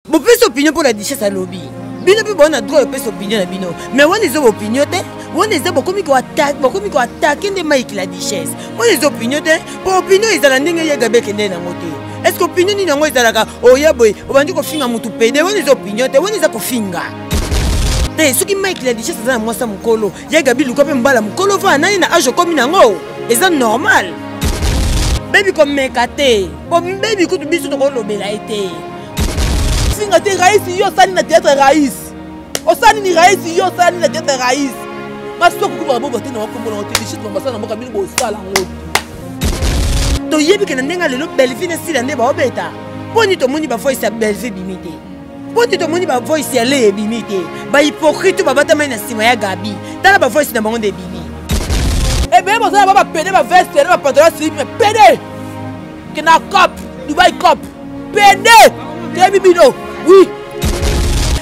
bopesi opinion mpo na duchesse alobi bino mpe bowana droit opesi opinion na bino mais wana eza baopinion te wana eza bokomi koatake nde mike la duchesse wana eza opinion te mpo opinion ezala ndenge ye gabe ekende nango te estce opinion nini yango ezalaka oya oh, boye obandi kofinga motu pede wana eza opinion te wana eza kofinga te soki mike la duchesse aza na mwasi ya mokolo ye gabi luka mpe mbala mokolo vaa nani na age okomi nango eza normal bebi komeka te mpo bebi kutu biso tokolobela ye te Singa te rais yo sani na théâtre rais. Osani ni rais yo sani na théâtre rais. Basi to kukuba bobo te na wakombo na hotel shit mama sana mboka bini bo sala ngo. To yebi ke na ndenga lelo Bellevue na sila nde ba obeta. Poni to moni ba voice ya Bellevue bimite. Poni to moni ba voice ya le bimite. Ba hypocrite ba bata mai na sima ya Gabi. Tala ba voice na bango nde bimi. Ebe eh boza ba ba pede ba veste na ba pantalon slip pede. kena cop dubai cop pende toyebi bino oui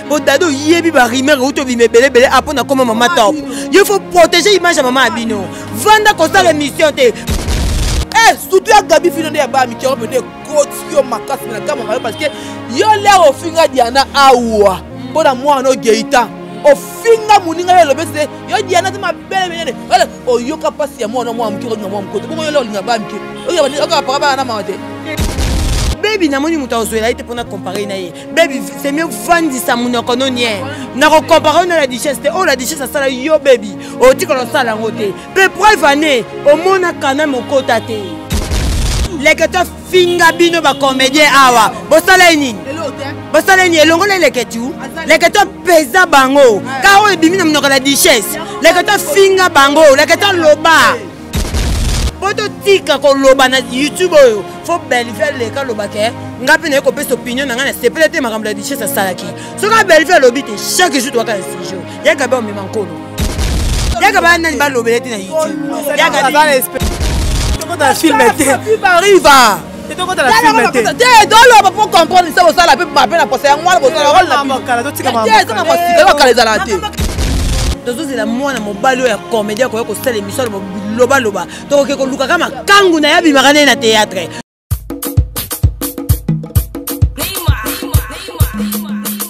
bodado oyebi barimer outi obima ebelebele apo na koma mama top yo faut protéger image ya mama ya bino vanda kosala émission te eh, surtout ya gabi fino nde ya baa mikero pende ekoti yo makasi na kama mayo parce que yo lere ofinga diana awa mpo na mwana ogeita ofinga moninga yo elobesi te yo diana te mabele menene oyoka mpasi ya mwana mwa moke okolinga mwa mokote bongo yo le olinga baa mike bebi namoni moto akozwela ye te mpona compare na ye bebi c'est mieux vandisa monoko no nie nakocompare na la duchesse te oyo oh, la duchesse asala yo bebi otikala osala yango te mpe preuve ane omona kana mokota te leke tofinga bino bacomédien awa bosala ye nini bosala ye nini elongola eleke tu leke topeza bango kaka oyo ebimi na monoko la duchesse leke tofinga bango leke toloba po totika koloba na youtube oyo fo bellevue aleka alobaka eh, ngai mpe naye kopesa opinion na ngai na sepele te makambo ya duchesse asalaki soki bellevue alobi te chaque jour toyaka na sujet yaka be omema nkolo yaka baa nani balobela te na youtube yaka filme te arriva toloba po comprendre se bosala mpe mabe na posa yango wana bozalaezanga mosikala kala ezalaka te tozozela mwana mobali oyo ya komedi akoya kosala emission lobaloba tokoki kolukaka makangu na ye abimaka naye na théâtre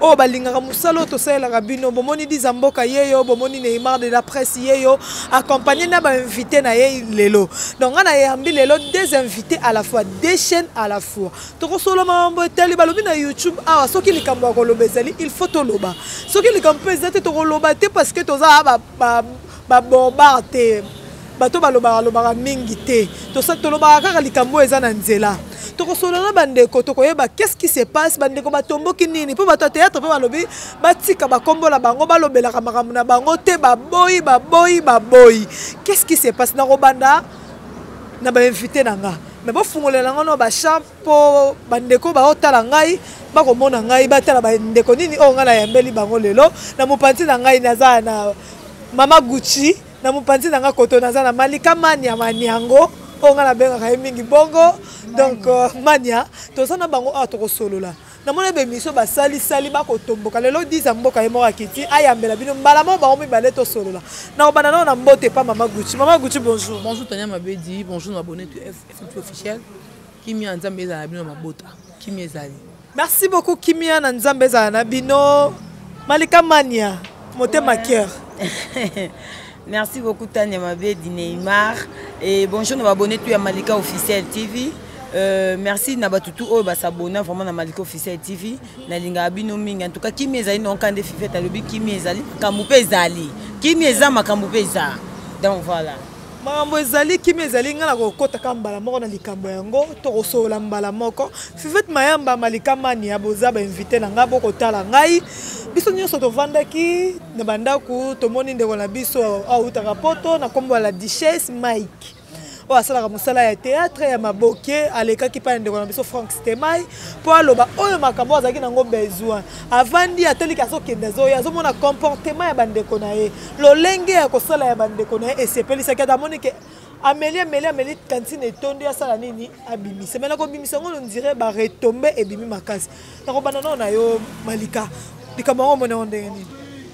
oyo balingaka mosala oyo tosalelaka bino bomoni diza mboka ye yo bomoni neymar de la presse ye yo accompagné na bainvité na ye lelo donc ngai nayambi lelo deux invités à la fois deux chaînes à la fois tokosolo mambo etali balobi na youtube awa ah, soki likambo ya koloba ezali il faut toloba soki likambo mpe eza te tokoloba te parce que toza ah, ba borbar te bato balobaka lobaka mingi te tolobaka kaka likambo oyo eza na nzela tokosolola na bandeko tokoyeba qu'est-ce qui se passe bandeko batomboki nini mpo bato ya théâtre mpe balobi batika bakombo na bango balobelaka makambo na bango te baboyi baboyi baboyi qu'est-ce qui se passe nakobanda na bainvité na nga me bofungolela yango no bachamp mpo bandeko baotala ngai bakomona ngai batala bandeko nini oyo ngai nayambeli bango lelo na mopanzi na ngai naza na mama gucci na mopanzi na nga koto naza na malika mania maniango oyo nga nabengaka ye mingi bongo donc euh, mania toza na bango awa tokosolola namoni bemission basalisali bakotomboka lelo diza mboka ye moko akiti ayambela bino mbala moko bango mibale tosolola nakobanda nao na mbote epa mama gucci mama gucci bonjour bonjour tania mabedi bonjour na abonne to fmp officiel kimia ya nzambe ezala na bino na mabota kimia ezali merci beaucoup kimia na nzambe ezala na bino malika mania motema cœur merci beaucoup tania mabedi neymar et bonjour na babone tu ya malika officiel tv Euh, merci na bato tout oyo basabona vraiment na malika officiel tv nalingaka bino mingi en tout cas kimia ezali na oka nde fifete alobi kimia ezali makambo mpe ezali kimia eza makambo mpe eza donc voilà makambo ezali kimia ezali ngai nakokotaka mbala moko na likambo yango tokosolola mbala moko fivete mayamba malika mania boza bainvite na ngai bokotala ngai biso nyonso tovandaki na bandako tomoni ndeko na biso autaka poto na nkombo ya la duchesse mike oyo asalaka mosala ya théâtre ya maboke alekaki mpa na ndeko na biso frank stemai mpo aloba oyo makambo azalaki nango besoin avandi atali ke azokende azoya azomona comportement ya bandeko na ye lolenge ya kosala ya bandeko na ye esepelisaki ata amoni ke ameli ameli ameli kantine etondi asala nini abimisa mai nakobimisa yango nondire baretombe ebimi makasi nakobanda nao na yo malika likambo yango omoni yango ndenge nini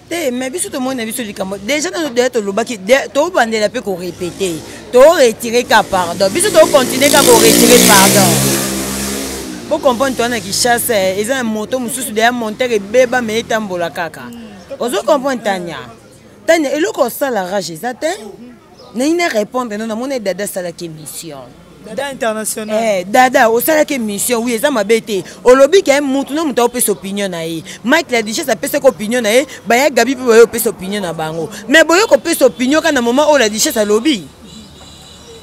te mais biso tomoni na biso likambo déjà nano deya tolobaki tobandela mpe korepete toretire ka pardon biso tokontinue ka koretire pardon bocomprendre towana kishasa eza na moto mosusu deya montere ebeba me etambola kaka mm. ozo comprendre tania tania eloko osala rage eza te nayi na répondre no namoni dada asalaki émission dada international eh, dada osalaki émission wi eza mabe te olobi ke motu na moto aopesa opinion na ye mike la dichesse apesaki opinion na ye baya gabi mpe baye opesa opinion na bango mais boye kopesa opinion kaka na moment oyo la dichesse alobi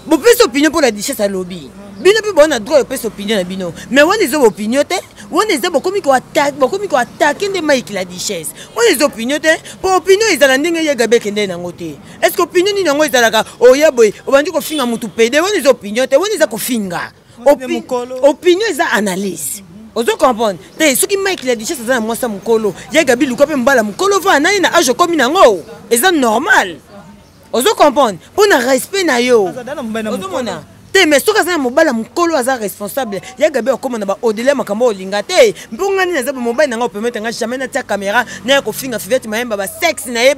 bopesi opinion mpo na duchesse alobi bino mpe bowana droit opesa opinion na bino mais wana eza opinion te wana eza bokomi koatake nde mike la duchesse wana eza opinion te mpo opinion ezala ndenge ye gabi ekende nango te est ce que opinion nini yango ezalaka oya oh, boye obandi kofinga motu pede wana eza opinion te wana eza kofinga opinion eza analyse ozo comprendre te soki mike la duchesse aza na mwasi ya mokolo ye gabi luka mpe mbala mokolo vaa nani na age okomi nango eza normal ozo comprendre mpo na respect na yo ozomona te mais soki aza na mobali ya mokolo aza responsable ya gabi akoma na baodele makambo olinga te mpo ngai nini aza mobali na ngai opermete ngai jamais natia kamera na ya kofinga fivete mayemba basexe na ye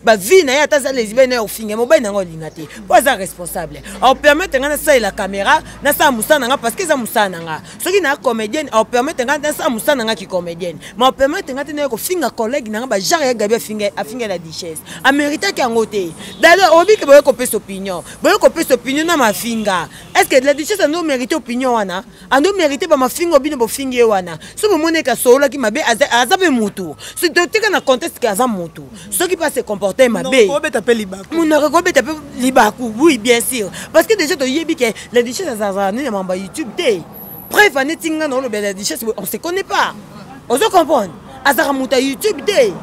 bavie na ye ata aza lesbienne na ya kofinga mobali na ngai olinga te mpo aza responsable aopermete ngai nasalela kamera nasala mosala na ngai parce que eza mosala na ngai soki na comédienne opermettre ngai nasala mosala na ngai kicomédienne ma opermettre ngai te naye kofinga collègue na ngai bajare ya gabi afinga na duchesse ameritaki yango te dada oyebi ke boye kopesa opinion boye kopesa opinion na mafinga est ce que la duchesse ando mérite opinion wana ando mérite bamafinga obino bofingi ye wana so bomoni eke asololaki mabe aza mpe motu totika na conteste ke aza motu soki mpe ase comporte mabe monoko ekobeta mpe libaku oui bien sûr parce que déjà toyebi ke la duchesse azalazala nini ya mambo ya youtube te preuve aneti ngai naoloba la duchesse on se connaît pas ozo comprendre azalaka moto ya youtube te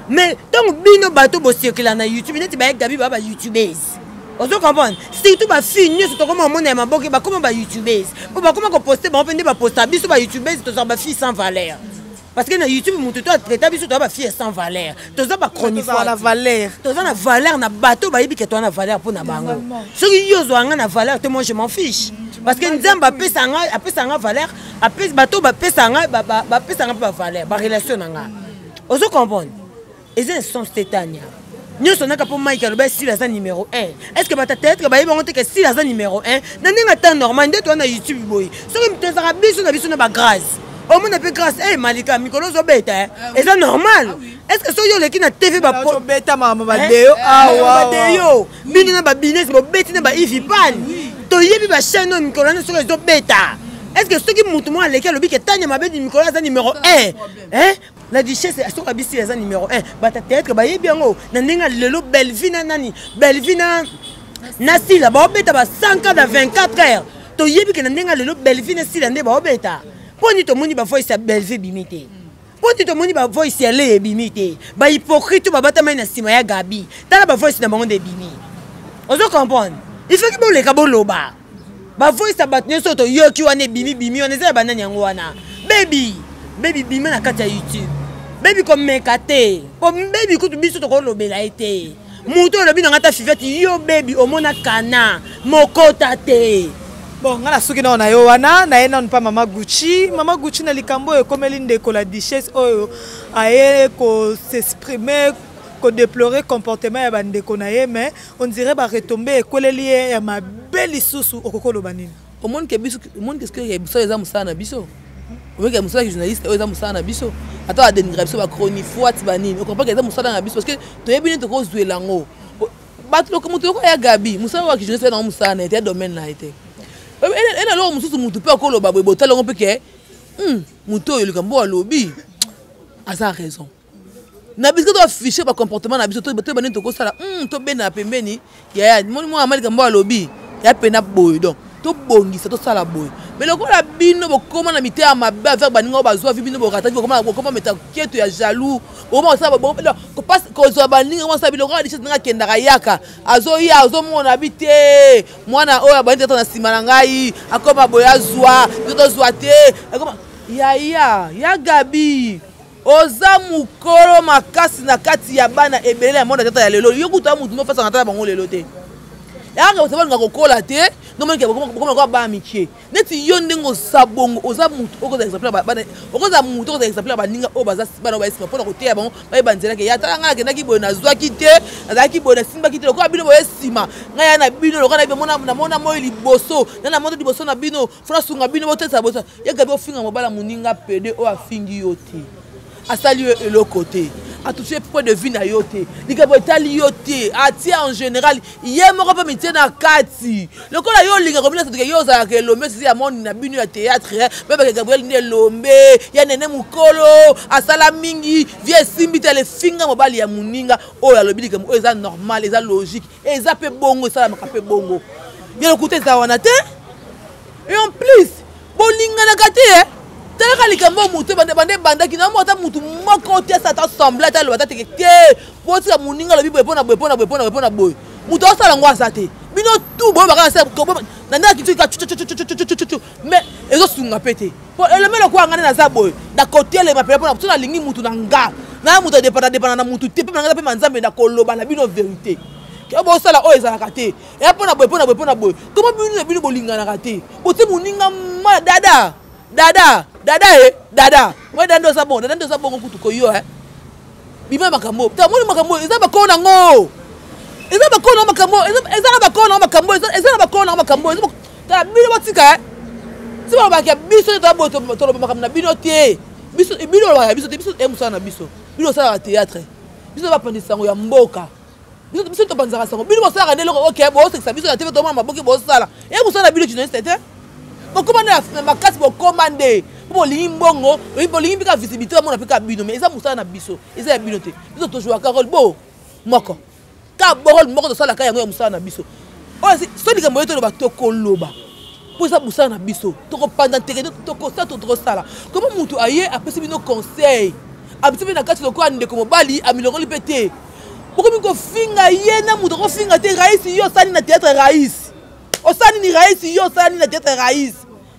mais ntango bino bato bosirkila na youtube neti baye gabi baa ba youtubese ozo comprendre surtout bafille nyonso tokoma omona ya maboke bakoma ba youtubese mpo bakoma koposte bango mpe nde baposta biso ba youtubese tozala bafille sans valeur parce que na youtube moto to atraita biso toza bafille sans valeur toza bachronifoire toza na valeur na bato bayebi ke toza na valeur mpo na bango soki yo ozwa nga na valeur te moi je m'en fiche parce que nzambe apesa nga apesa nga valeur bato bapesa nga bapesa nga mpe bavaleur barelation na nga ozo comprendre eza essence te tania nyonso naka mpo mike aloba esila aza numero 1 est ce que batateatre bayebi bango te ke esila aza numero 1 na ndenge ata normal nde toza na youtube boye soki moto ezaka biso na biso na bagrâce omona mpe grâce e malika mikolo ozobeta eh, eh, eza normal ah est ce que soki oleki na tv badeyo eh? bino na babines bobeti na baivipane toyebi bachaine oyo mikolo wana soki ezobeta est ce que soki motu moko aleki alobi ke tanya mabedi mikolo aza numero 1 la duchesse ya soka bisi eza numero 1 bata théâtre bayebi yango na ndenge ya lelo belvi na nani belvi na na sila baobeta ba 100 cas na 24 heures toyebi ke na ndenge ya lelo belvi na sila nde baobeta mpo nini tomoni bavoice ya belvi ebimi te mpo nini tomoni bavoice ya leye ebimi te bahypocrite oyo babatamai na nsima ya gabi tala bavoice na bango nde ebimi ozo comprendre il faut ki boleka boloba bavoyisa bato nyonso toyoki wana ebimi bimi wana eza ya banani yango wana bebi bebi bima na kati ya youtube bebi komeka te po bebi kutu biso tokolobela ye te moto oyo olobi na ngai ta fivete yo bebi omona kana mokota te bon ngai nasuki nao na yo wana naye nano mpa mama gucci mama gucci na likambo oyo ekomeli ndeko la duchesse oyo aye kosexprime kodeplore comportement ya bandeko na ye mais on dirait ba retomber ekweleli ye ya mabe lisusu okoki oloba nini omoni ke biso omoni ke sikoyo biso eza mosala na biso omoni ke mosala ya journaliste oyo eza mosala na biso ata badenigra biso bachronifuati banini okompa ke eza mosala na biso parce que toyebi nini tokozwela yango bato moto yoko ya gabi mosala oyo akijournaliste yango mosala na ye te ya domaine na ye te ena eloko mosusu motu mpe akoloba boye botala yango mpe ke moto oyo likambo oyo alobi aza raison na bisika to affiche bacomportement na biso toyeba nini tokosala hmm, tobenda na pembeni yaya moni mwana malika mbo alobi ya pena boye donc tobongisa tosala boye mais lokola bino bokoma na mite ya mabe avek baninga oyo bazwa vi bino borataki bokoma meta keto ya jaloux kozwa baninga mwasa biloko ya lichete nanga akendaka yaka azoya azomona bi te mwana oyo abandi tata na nsima na ngai akoma boye azwa biso tozwa te yaya ya gabi oza mokolo makasi na kati ya bana ebele ya mwana tata ya lelo yo kutu ya motu mofasaka tata bango lelo te yanga osaba olinga kokola te nomonikeokomakoa bana mikie neti yo ndenge oza bongo oza motu okozala exemple bana okozala motu okozala exemple ya baninga oyo baza bana oyo nsima mpona koteya bango bayeba nzela ke ya tala ngai nakendaki boye nazwaki te nazalaki boye nasimbaki te lokola bino boye nsima ngai ya na bino lokola namona moi liboso na namona liboso na bino fona sunga bino botetsa bosa ye gabi ofinga mobala moninga pede oyo afingi yo te asali yo eloko te atouche point de vue na yo te likambo etali yo te atie en général ye moko mpe mitie na kati lokola yo olinga komina sotoke yo ozalaka elombe sisi ya monde na bino ya théâtre mebake gabriel nde elombe ya nene mokolo asala mingi vie esimbi te alefinga mobali ya moninga oyo alobi likambo oyo eza normal eza logique eza mpe bongo esalamaka mpe bongo ya lokuta eza wana te et en plus bolinganaka te eh? talaka likambo ya moto banda ebandaki na mota motu moko te asa ata semble ata aloba tateke te botika moninga alobi boye mpona boye mpona boye mpona boye mpona boye moto asala yango aza te bino tu boyebaka na nde akitiki mais ezosunga mpe te po elombe lokola ngai nde naza boye nakotelema mpe mpona so nalingi motu na nga na moto adepana depana na motu te mpe na ngai mpe manzambe nakoloba na bino verité bosala oyo ezalaka te eya mpo na boye mpo na boye mpo na boye koma bino na bino bolinganaka te botie moninga ma dada dada dada e dada oye dada nde oza bongo dada nde oza bongo kutu koyo e bima makambo ta moni makambo eza bakoo nango eza bakoo nango makambo eza na bakoo nango makambo eza na bakoo nango makambo ta bino botika eh? ti balobaka biso nde toyaboye toloba makambo na bino te bino olobaka biso te biso e mosala na biso bino osalaka théâtre biso nde bapanzi sango ya mboka biso topanzaka sango bino bosalaka nde eloko oke bosekisa biso na tv tomona maboki bosala e mosala na bino journaliste te bokoma nde na makasi bokoma nde mpo bolingi mbongo bolingi mpe ka visibilité bamona mpe ka bino mais eza mosala na biso eza ya bino te biso tojuaka role bo moko ka borol moko tosala ka yango ya mosala na biso oyo so likambo oyo toloba tokoloba mpo eza mosala na biso tokopanda nteke tokosala to tokosala koma motu aye apesi bino conseil abisi mpe na kati lokola ndeko mobali amilongoli mpe te bokomi kofinga ye na moto akofinga te raisi yo osali na teatre raisi osali ni raisi yo osali na teatre raisi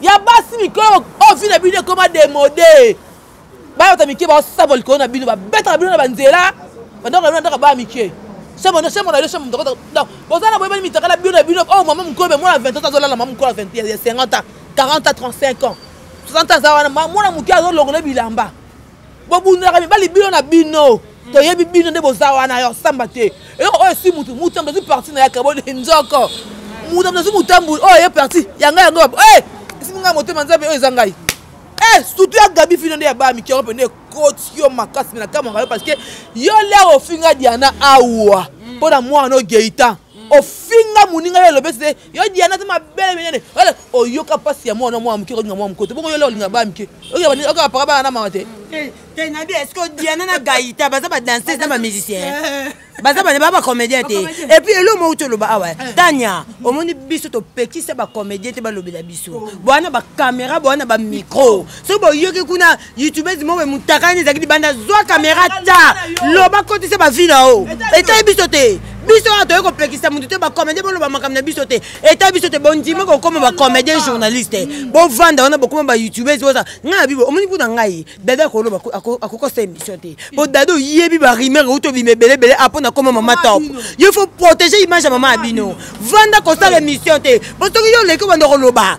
ya basi mikolo oyo oh, vi na bino ekoma demode bayota mike baosaba likolo na bino babetaka bino na banzela bandako na bino andaka baya mike semono semona yo semono toko donc boza na boyebani mitakala bino na bino oyo oh, mama mokolo me mwana 20 ans azolala mama mokolo ya 50 ans 40 ans 35 ans 60 ans aza wana mwana moke azolongola bilamba bobundaka mibali bino na bino toyebi bino nde boza wana ya kosamba te eloko oyo esi mutu mutu amdazwi parti na yaka boni nzoko mutu amdazwi mutambuli oyo ye parti yanga yango eh, esimi ngai motema nzambe oyo eza ngai eh, surtout ya gabi fino nde ya baa mikiango mpe nde ekoti yo makasi me nakamwaka yo parce que yo lere ofinga diana awa mpo na mwana oyo geitan ofinga moninga yo elobesi te yo diana te mabele minene wala oyoka mpasi ya mwana mwa moke olinga mwa moke te bongo yo le olinga ba mike oyoka paka bana na mama te eh, te nabi eske diana na gaita baza badanseuse na bamusicien eh. baza bana ba bacomédien te epuis elo moko toloba awa eh. tania omoni biso topekisa bacomédien te balobela biso oh. boana bacaméra boana bamicro soki boyoki kuna youtubese moko emutakani ezalaki libanda zwa kamera ta loba kotisa bavi na yo etali biso te biso oyo toyei kopekisa motu te bacomédien boloba makambo na biso te etali biso te bondimi kokoma bacomédien journaliste mm. bovanda wana bokoma bayoutubese oza ngai na bibo omoni mpo na ngai dada akoloba akokosa émission te po mm. dada oyebi barimer euti obima ebele ebele apo na koma mama top yo faut protéger image ya mama ya bino vanda kosala émission te po soki yo oleki obanda koloba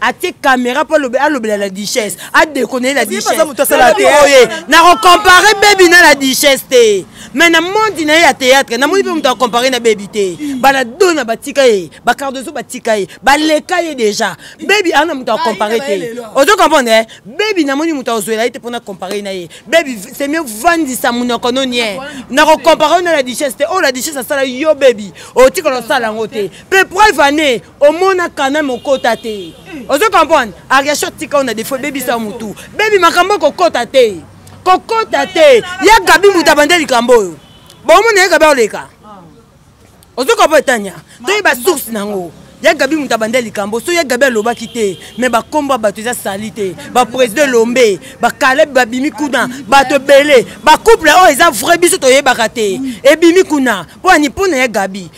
atie caméra mpo alobela la duchesse adekoneli la duchesseoye nakocompare bebi na la duchesse te mais na mondi na ye ya théâtre namoni mpe moto acompare na bebi te bana dona batika ye bacardozo batika ye baleka ye déjà bebi ana moto acompare te ozo comprendre eh? bebi namoni moto akozwela ye te mpona compare na ye bebi c'est mieux vandisa monoko no nie nakocompare na la duchesse te oyo oh, la duchesse asala yo bebi otikala osala yango te mpe preuve année omona quand même okota te ozo comprendre ariation tika ona defo ebebisa mutu bebi makambo kokota te kokota te ya gabi mutu abande likambo oyo bomona ye gabi oleka ozo comprendre tania toyeba source nango ya gabi moto abanda likambo so ya gabi alobaki te me bakombo ya bato eza sali te baprésident elombe bakaleb babimi kuna bato ebele bacouple oyo eza vrai biso toyebaka te ebimi kuna mpo ani mpo na ya gabi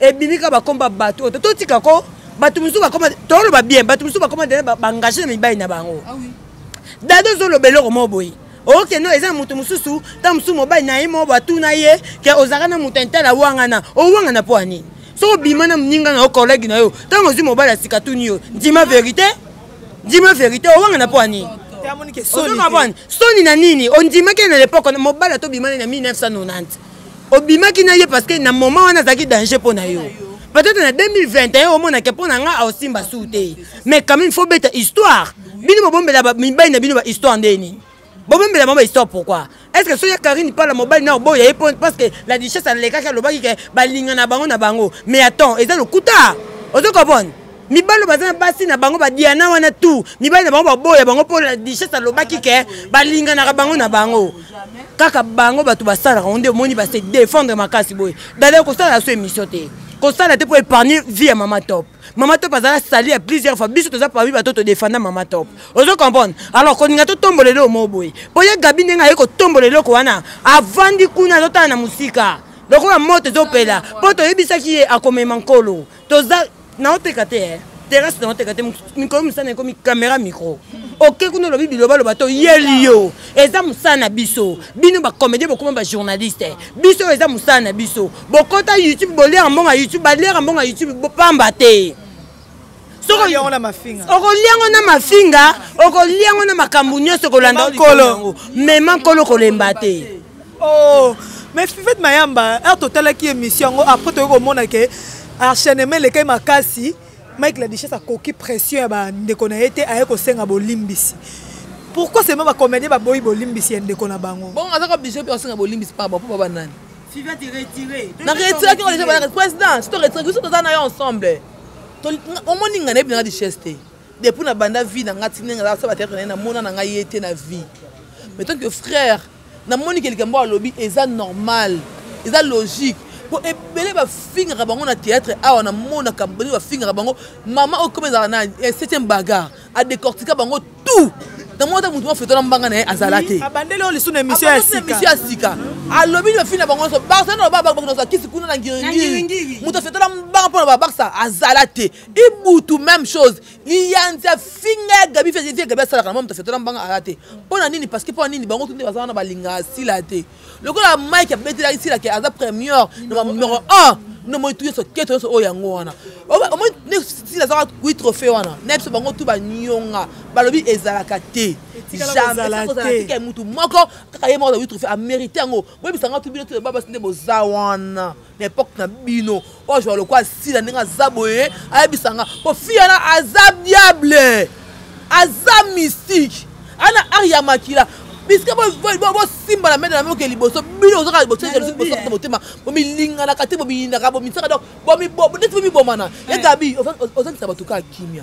ebimi kaka bakomba bato oyo totika ko bato mosusu bakoma toloba bien bato mosusu bakoma te baengage na mibali na bango ah dada ozoloba eloko moko boye oke no eza na moto mosusu ntango mosusu mobali na ye moko batuna ye ke ozalaka na moto intele awangana owangana mpo ya nini soki obima na moninga na yo kolege na yo ntango ozwi mobali ya sika tuni yo ndima verité ndima verité owangana mpo ya nini soni na nini ondimaki na lepoke mobali atobimani na 1990 obimaki na ye parce que na moment wana azalaki danger mpo na yo peut-être na 2021 omonake mpo na nga aosimba su te mais quand même faut beta histoire bino bobombela mibali na bino ba histoire nde nini bobombela bango ba histoire pourquoi est ce que soki ya karine pala mobali na oboya ye parce que la duchesse alekaki alobaki ke balingana bango na bango mais attends eza lokuta ozo comprendre mibali baza na basi na bango badiana wana tu mibali na bango baboya bango mpo dichese alobaki ke balinganaka bango na bango kaka bango bato basalaka ngo nde omoni base défendre makasi boye dada kosala so émission te kosala te mpo épargne vie ya mama top mama top azala sali ya plusieurs fois biso toza parmi bato todefanda mama top ozo comprendre alors kolinga totombola eloko moko boye mpo ye gabi ndenge aye kotombola eloko wana avandi kuna azotala na mosika lokola moto ezopela mpo toyebisaki ye akomema nkolo toza naoteka te eh. terrasse na oteka te mikolo mosana ekomi camera micro oke kuna olobi bilobaloba to yeli yo eza mosala na biso bino bacomédien bokoma bajournaliste biso eza mosala na biso bokota youtube boliaka mbonga youtube baliaka mbonga youtube bopamba te okolia yango na mafinga okolia yango na makambo nyonso kolanda mema nkolo kolemba te oh mais fivete mayamba heure totalaki émission yango après toyei komona ke enchaînement elekaki makasi mike la duchesse akoki pression ya bandeko na ye te aye kosenga bolimbisi pourquoi seulement bacomédien baboyi bolimbisi ya ndeko na bango bongo azaka oblige mpe asenga bolimbisi pamba mpo baba nani na retiraki ngo deja président si toretiraki biso toza na yo ensemble omoni nga nayebi nanga duchesse te depuis na banda vie na ngai ti ndenge azala sala bateatre na ye namona na ngai ye te na vie mais tant que frère na moni ke likambo alobi eza normal eza logique po ebele bafingaka bango na théâtre awa na monaka bele bafingaka bango mama oyo koma ezalaka na eh, septième bagar adecortika bango tout na mwana ata motu mafetola mbanga na ye azala te abandeli oyo lisusu na émission ya sika émission ya sika alobi na fina bango nyonso barsa na loba bakuna za kisi kuna na ngiringiri moto afetola mbanga mpo na babarsa azala te ibutu même chose liyanzi afinga ya gabi fie gabi asalaka na mwa moto afetola mbanga aya te mpo na nini parceke mpo na nini bango tunde baza wana balingaka sila te lokola mike abetelaki sila ke aza première na numero 1 no moi tuyo soketo nyonso oyo yango wana omoi sila azaka kui trophée wana na biso bango tu banyonga balobi ezalaka te jametika mutu moko kaka ye moko azakui trophée amerite yango boyebisanga tu bino tu babasi nde boza wana na epoque na bino oazwa lokola sila ndenge aza boye ayebisa nga po fi yana aza diable aza mystique ana ar ya makila biske bosimbana mede na mioke liboso bino ozaka liboso na motema bomilinganaka te bomiyinaka bomisaka donc neti bomibomana ye gabi ozangisa bato kaka kimia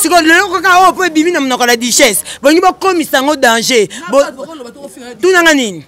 sikoyo lelo kaka oyo oh, mpo ebimi na monoko la duchesse bolingi bokomisa yango danger tunanga nini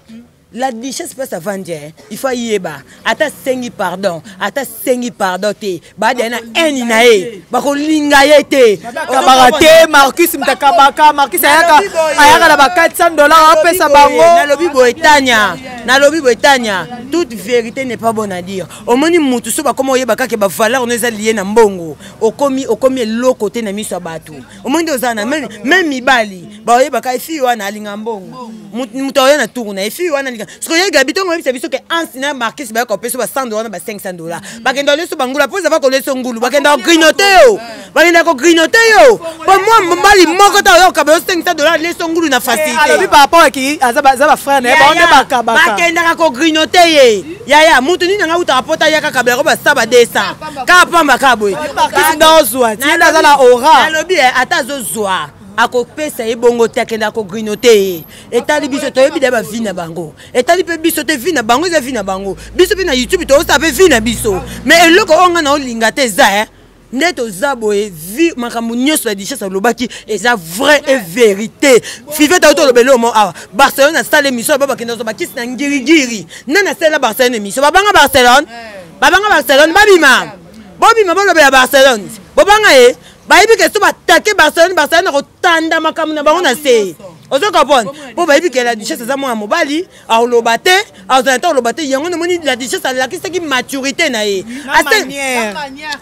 la duchesse place avandi eh. il faut ayeba ata asengi pardon ata asengi pardon te baada na haine na ye bakolinga ye te kabaka te marcus mtakabaka marcus ayaka ayaka na ba 400 dollars apesa bango nalobi boye tania nalobi boye tania toute vérité n'est pas bonne à dire omoni mutu so bakoma oyeba kaka bavaleur no eza lie na mbongo okomi okomi eloko te na miso ya bato omoni nde oza na meme mibali baoyebaka efi wana alinga mbongo moto aoya na tour na efi wana alinga soki oye gabi ntongo oyebisa biso ke ansi na markis bayaka opeso ba 100 dola na ba 500 dola bakenda oleso bangula mpo ezava koleso ngulu bakenda kogrinote yo bakenda kogrinote yo mpo mwa mobali moko ta oyoka bayo 500 dola leso ngulu na facilitebakendaka kogrinote ye yaya moto nini anga utaka mpo tayaka kabelako basa ba 200 kaka pamba kaka boye kisi nga ozwa ti yende aza na ora alobi eh, ata azozwa akopesa ye bongo te akende akogrino te ye etali biso toyebi da bavi na bango etali mpe biso te vi na bango eza vi na bango biso mpe na youtube toyosa mpe vi na biso mais eloko oyo nga na olinga te eza eh? nde toza boye vi makambo nyonso ya dichesse alobaki eza vrai e verité five tauti oloba eloo mo awa barcelone asala émission aba bakende ozwa bakisi na ngirigiri nani asalela barcelone émission babanga barcelone eh. babanga barcelone babima bobima bolobela barcelone bobanga ye bayebi ke so batake barcelone barcelone akotanda makambo na bango na se ozo comprendre mpo bayebi ke la duchesse aza mwana mobali aoloba te azala te aoloba te yango namoni la duchesse alakisaki maturité na ye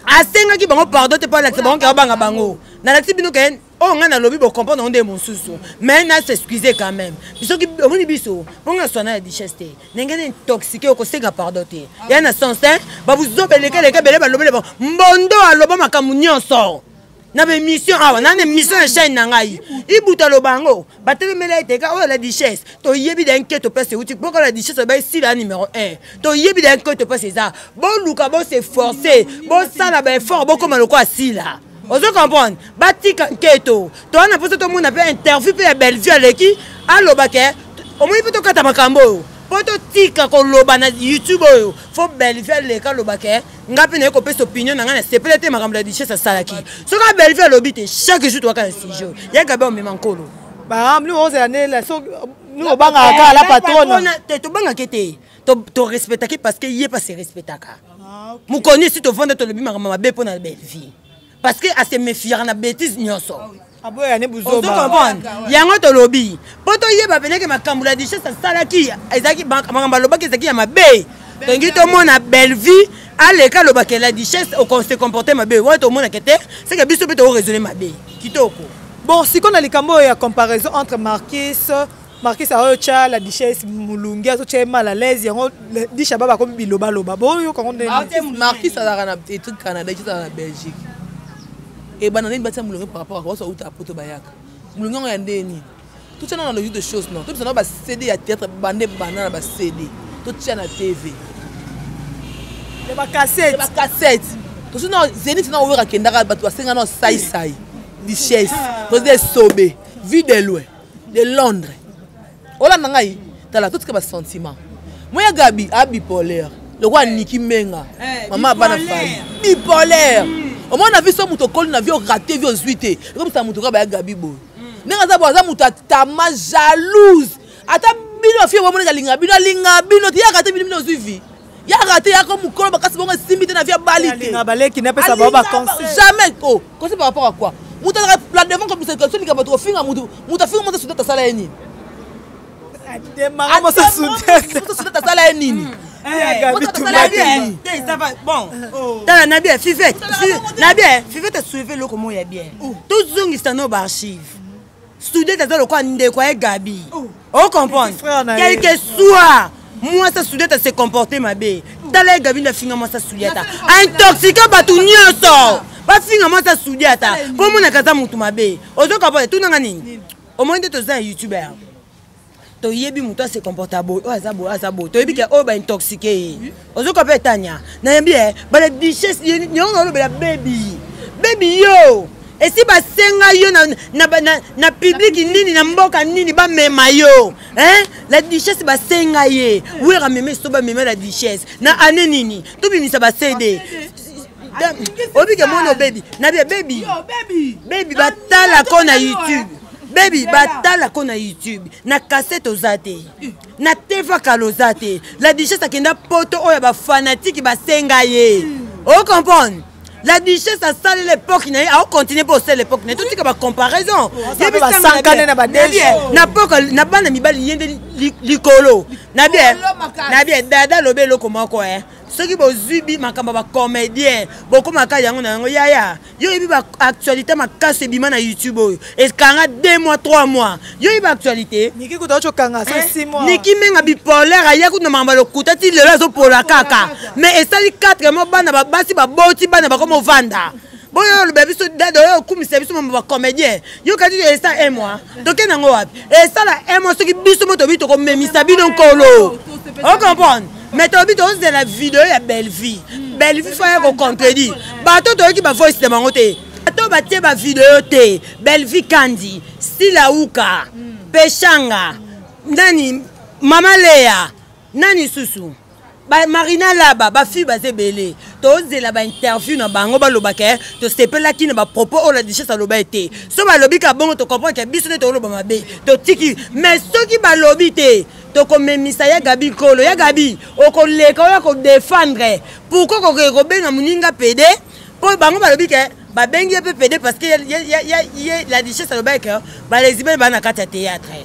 asengaki bango pardon te mpo alakisa bango ke babanga bango nalakisi bino ke oyo oh, ngai nalobi bocomprendre yango nde mosusu mai na s'excuse quand même bisoki omoni biso mpo ngai naswana ya duchesse te ndenge na intoxike okosenga pardon te ya na sens te babuzoba elekeleke bele balobele bango mbondo aloba makambo nyonso na baémission awa na na émission ya chaîne na ngai ibuta aloba yango batelemela ete ka oyo la duchesse toyebi da nke topesa euti mpoka la duchesse oba esila ya numéro 1 toyebi da nke topesa eza boluka boseforce bosala baeffort bokoma lokola sila ozo comprendre batika nketo toa na mposa tomona mpe interview mpe ya bellevue aleki aloba ke omoni mpe tokata makambo oyo mpo totika koloba na youtube oyo fo bellevue aleka aloba ke ngai mpe naye kopesa opinion na ngai na sepele te makambo ya duchesse asalaki soki bellevue alobi te chaque jour toaka na sujet oyo ya gabe omema nkolo baamli ozela nela obangaka kaka la patrona te tobangake te torespectaki parce que ye mpe aserespectaka ah, mokoni esi tovanda tolobi makambo mabe mpo na bellevie parce que asemefiaka na bétise nyonso ah, ozokomprendre yango tolobi mpo toyeba peneke makambo la duchesse asalaki ezalaki makambo alobaki ezalaki ya mabe tolingi tomona bellevie aleka alobaka la duchesse okonse comporte mabe wana tomonaka te seke biso mpe tokoraisonne mabe kitoko bon sikoyo na likambo oyo ya comparaison entre marquise markis aoyo tya la duchesse molungi azotya ye mal à l'aise yango disha ba bakomi bilobaloba boyoka ngo ndemarkis azalaka na etude canada ezala na belgique ebanda nini batya molungi par rapport akosa uta apoto bayaka molungi yango ya ndenge nini totya na na logique de chose non tobisa na bacd ya théâtre bande banda na bacd totya na tv ya bacassette tosi na zenit na oyoka kendaka bato basenga na saisai duchesse tosi esobe vie de loin de londres olanda ngai tala totika basentiment moya gabi abipolaire lokola niki menga eh, mama abana fali bipolaire hmm. omona biso moto okoli na vie orate vie ozwi te ekomisa moto kaka baya gabi boye hmm. ndenge aza boye aza moto atama jalouse ata bino fie bomoneka linga bino alinga bino teyaka te bino bino ozwi vie ya rate yako mokolo makasi bongo esimbi te na vie abali te jamais o oh, kosi par rapport à quoi moto azaka la devant kobisa question likambo to kofinga moto moto afinga moto sudete asala ye nini sudete asala ye nini tala na bien fivete na bien fivete soueve eloko moko ya bien tozongisa no baarchive student aza lokola ndeko ya gabi oh. o comprendre quelque soit mwasi ya student ase comporte mabe tala ye gabi ndafinga mwasi ya student intoxique bato nyonso bafinga mwasi ya student ata mpo omonaka aza motu mabe ozoka po etunanga nini omoni nde toza ya youtuber toyebi moto ase comporta boye oyo aza boye aza boye toyebi ke oyo baintoxike ye ozoka mpe etania nayembi e bana duchesse yango naolobela bebi bebi yo esi basenga yo na, na, na, na publiki nini na mboka nini bamema yo eh? la duchesse basenga ye wera meme so bamema la duchesse na ane nini tobimisa bacd obike mwana obebi nabi abebi bebi batala ko na youtube bebi batala ko na youtube na kasete oza te eh. na teva kala oza te la duchesse akenda poto oyo bafanatike basenga ye eh. ocomprendre la duchesse asali l'époque na ye aocontinue mpo osala l'époque na ye totika bacomparaison na bana mibali ye nde likolo na bien dada alobi eloko moko e soki bozwi bi makambo ya bacomédien bokomaka yango na yango yaya yo oyebi baactualité makasi ebima na youtube oyo ekanga 2 mois 3 mois yo oyebi baactualité niki eh? menga bipolaire aya kutu na makambo ya lokuta ti lelo azopola kaka mais esali 4 mois bana babasi baboti bana bakoma ovanda boyo oloba biso dada oyo okumisa biso mambo bacomédien yokati esa un mois tokende yango wapi esala un mois soki biso mo tobi tokomemisa bino nkolo ocomprendre mais tobi tozela video ya bellevie bellevie faya kocontredire bato toyoki bavoice na bango te bato batie bavideo te bellevie kandi silauka peshanga nani mama leya nani susu ba marina laba bafille baza ebele tozela bainterview na bango balobaka eh, tosepelaki na bapropos oyo la duchesse aloba ye te so balobi ka bongo tocomprendre ke biso nde tokoloba mabe totiki mais soki balobi te tokomemisa ya gabi nkolo ya gabi okoleka oya kodefendre pourkoi kokee kobenga moninga pede mpo bango balobi ke babengi ye mpe pede parce que ye la duchesse alobaki ke balesibene baa na kati ya théâtre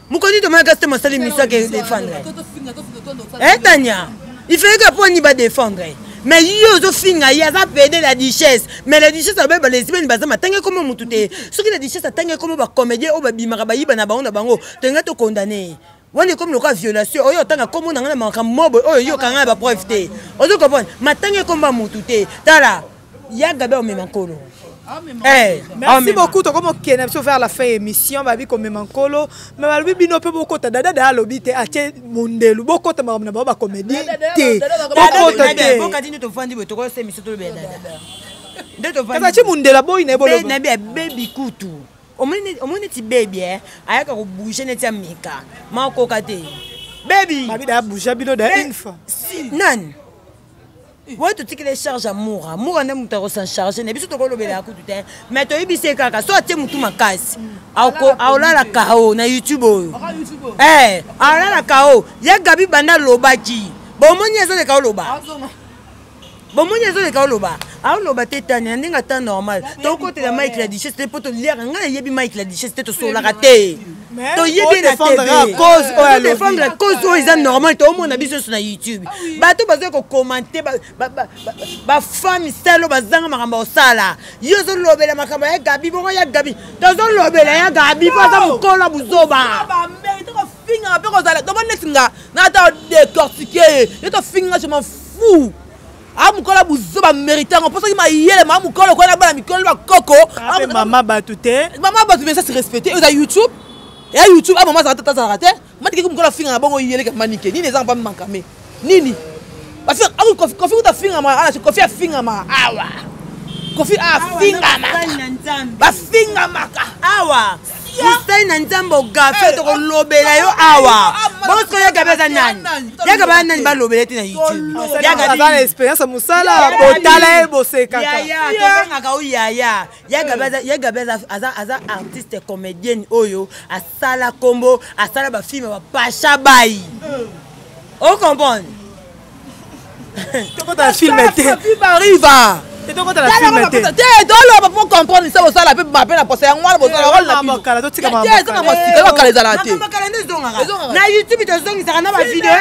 mokonzi tomona kasi te masali miso ake defendre etania eh, ifeke mpo ni badefendre mais ye ozofinga ye aza pede la duchesse mais la duchesse abe balesibeni baza matanga ekoma motu te soki la duchesse atanga ekoma bacomédien oyo babimaka bayiba na bango na bango tolinga tokondane ye wana ekomi lokola violation oyo otanga nkombo na ngai na makambo mobo oyo yoka ngai na bapreuve te ozo comprendre matanga ekomba motu te tala ya gabi aomema nkolo eh, merci beaucoup tokoma okende na biso vers la fin émission babi komema nkolo me balobi bino mpe bokota dada daya alobi te atie mondelu bokota makambo na bango bacomédie te bokota te atie mondelu aboyi na ye bolobi abebi kutu omoni neti bebi eh? ayaka kobouge neti ameka makoka te bebi babida abouge bino da une fois nani boye totikile charge ya mura mura nde moto akosancharge na biso tokolobela ya kutu te mai toyebi se kaka so atie motu makasi aolala kao na youtube oyo eh, aolala kao ya gabi banda alobaki bomoni ezoleka oloba bomoni ezoleka oloba aoloba te tani na ndenge ata normal tokotela mike la duchesse te mpo toliaka ngai nayebi mike la duchesse te tosololaka te toyebi na tdefendre cause oyo eza normal toomona biso nyonso na youtube bato bazali kokomante bafami salo bazanga makambo osala yo ozolobela makambo ya gabi bongo ya gabi tozolobela ya gabi mpo aza mokolo ya buzoba fingaka mpe kozala tomoni neti nga na ata decortike ye ye tofinga je m'en fou amukola ah, buzoba mérite yango mpo soki mayele ma mukolo okoya na bana mikolo na bakoko ah, ah, mama bato te mama bato mesa se respecte oza youtube ya youtube a mama azalaka tata azalaka te matikeki mokolo afinga na bongo yeleke manike nini ezanga mpa mankame nini kofi kuta afingama ala kofi afingama awa kofi afingama bafingamaka awa mosali na nzambe ogafe eh, tokolobela yo ah, awa ah, ah, bosko yaka baza nani yaka baza nani balobela te na youtubeyaka na expérience ya mosala botala ye bosekakatobengaka o yaya yaka baza aza artiste comédienne oyo asala nkombo asala bafilme bapasha bayi eh. o comprendre tokota na film te bariva toloba po comprendre se bosala mpe mabe na posa yango wana bosalakala ezala te na youtube tozongisaka na bavideo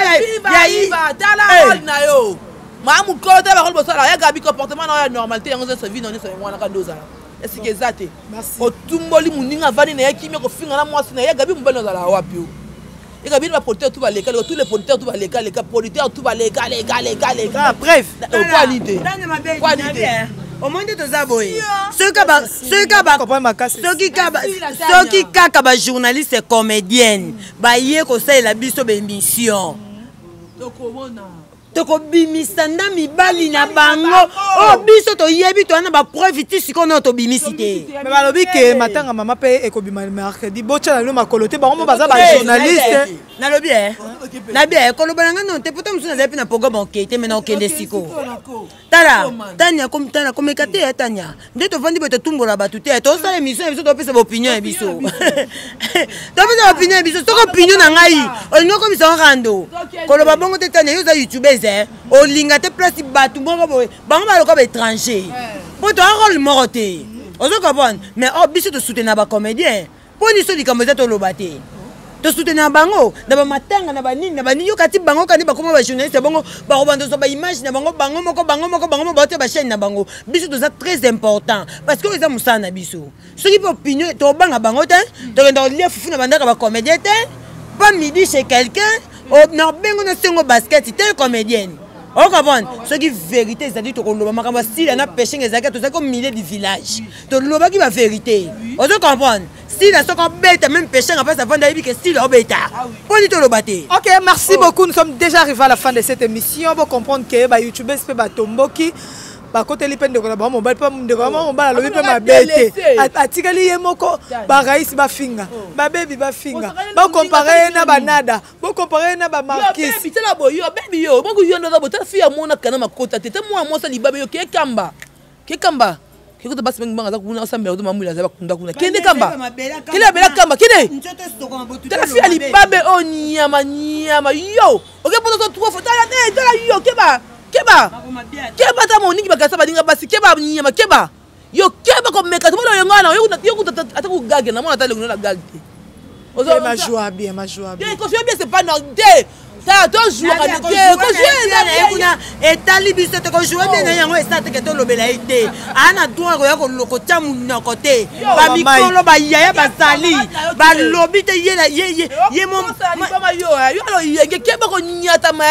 na yo maa mokolo te bakolo bosala ya gabi comportement na oyo ya normalité yango nyonso vi na nyonso yango wana kanda ozala esika eza te otumboli moninga avandi na ye kimia kofinga na mwasi na ye gabi mobali ozala wapi o eka bino bapoliteur tu baleka leka tous les politeurs tu baleka leka politeur tu baleka leka leka leka ah, bref okwani te kwani te omoni nde toza boye soki kaka bajournaliste comédienne baye kosalela biso baémission tokobimisa nda mibali na bango oyo oh, biso toyebi toya na bapreuve ti sikoyo nayo tobimisi te me balobi ke matanga mama mpe ekobima mercredi botya na bino makolo te bango mo baza bajournaliste nalobi e nabi e koloba na ngai no te pota mosusu nazali mpe na programme okei te me na okende sikoyo tala tania comme tala comme ekate ya tania nde tovandi boye totumbola bato te tosala émission ya biso topesa baopinion ya biso topesa baopinion ya biso soki opinion na ngai olingi okomisa ngo rando koloba bongo te tania yo oza youtubeuse eh? olinga te place bato moko boye bango baloka baétranger mpo toa role moko te ozo comprendre mais o oh, biso tosoutenir bacomédien mpo niso likambo eza toloba te tosoutenir bango na bamatanga na banini na banini yo kati bango kani bakoma bajournaliste ya bongo bakobanda ozwa baimage na bango bango moko bango moko bango moko baote bachaine na bango biso toza très important parce que oyo eza mosala na biso soki mpe opinion tobanga bango te tokenda kolia fufu na bandaka bacomédien te pas midi chez quelqu'un nabengo na sengo basket te comédienne okomprendre soki vérité ezali tokoloba makambo asila na peshing ezalaki tozalaki au milieu du village tolobaki ba verité ozo comprendre style soki obeta meme peshanga mpasi avanda ayebi ke style obeta mpo nini toloba te ok merci oh. beaucoup nous sommes déjà arrivé à la fin de cette émission bocomprendre ke bayoutubes mpe batomboki bakoteli mpe ndeko na bango mobali mpe ndeko na bango mobali alobi mpe mabe te atikali ye moko baraisi bafinga oh. babebi bafinga bokompare ye na banada bokompare ye na bamarkisitala boyo bebi yo bokuyo ndoza botala fi ya mona kana makota te te mwana mwasi alibabe yo kekamba ke kamba ke kota basi bangi banga za kuna osambela kota mamwila za bakunda kuna kende kamba kende abela kamba kende tala fi ya libabe oyo oh, nyama nyama yo oke poto to trois fois tala eh, tala yo keba keba keba ta moningi bakasa baninga basi keba nyama keba yo keba komeka tomona oyonga na yo kuta ata kogage na mona ata elongi na gage te Ozo ma joie bien ma joie bien. Bien ko joie bien c'est pas normal. tozuaka kuna etali biso te kojoue bie na yango esa teke tolobela ye te aa na droit koya kolokotya monoko te bamikolo bayaya bazali balobi te yeye mo yenge keba konyatama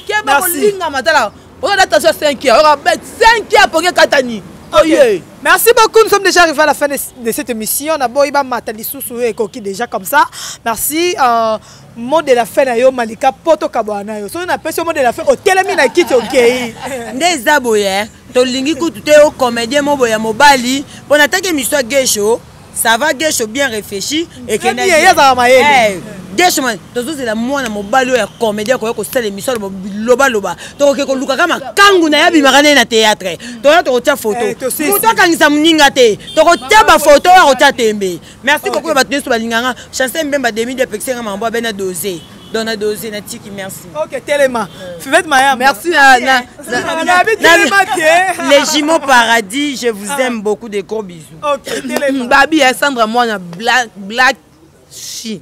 keba kolingama tala oza na tension 5 heures oyoka bête 5 heures pongi ekatani oye Merci beaucoup, nous sommes déjà arrivés à la fin de, de cette émission. Na boy ba mata lisusu e koki déjà comme ça. Merci euh, mot de la fin na yo Malika poto kabwana yo. So na pesi mot de la fin o telemi na kiti okei. Nde za boye tolingi kutu te o comédien mo boye mobali pona take miswa gesho ça va gesho bien réfléchi ekendeyezaka mayele gesho eh, tozozela mwana mobali oyo ya comédien koya kosala émission aloba bilobaloba tokoke kolukaka makangu na ye abimaka naye na théâtre toya tokotya foto eh, moto akangisa moninga te tokotya bafoto oyo akotya tembe merci beaucoup ya bato nyonso balinganga chancel mbemba demi de pekisanga mambo abena dose donc na dose na tiki merci ok telema fivette maya merci na les jumeaux paradis je vous aime beaucoup de gros bisous okay, hmm, babi ya sandra mwana black, black shi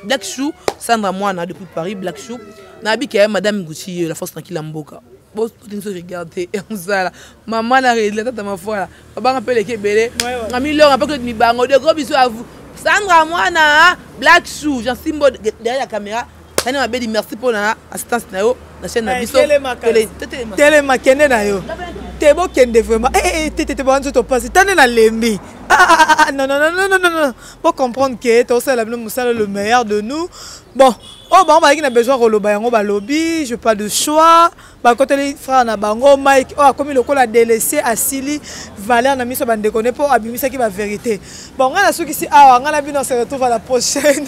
black chou sandra mwana depuis paris black chou nayebiki ya madame gucci ye la force tranquille ya mboka botinso regarde mosala mama na redla tata mafwala babanga mpe leki ebele na milonga mpe koleti mibango deko biso avu sandra mwana black chou jansimbo derrière la caméra tani mabedi merci mpo na assistance na yo na chaîne na eh, biso telema kende na yo te bokende vraiment eh, eh, tetete bango nzoto mpasi tande nalembi ah, ah, ah, bocomprendre ke tosala bino mosala le meilleur de nous bon oyo oh, bango bazalaki na besoin koloba yango balobi je pas de choix bakoteli frère na bango mike oyo oh, akomi lokola delese asili valeur na miso ya bandeko ne mpo abimisaki baverité bon ngai nasukisi awa ngai na bino se retrouve à la prochaine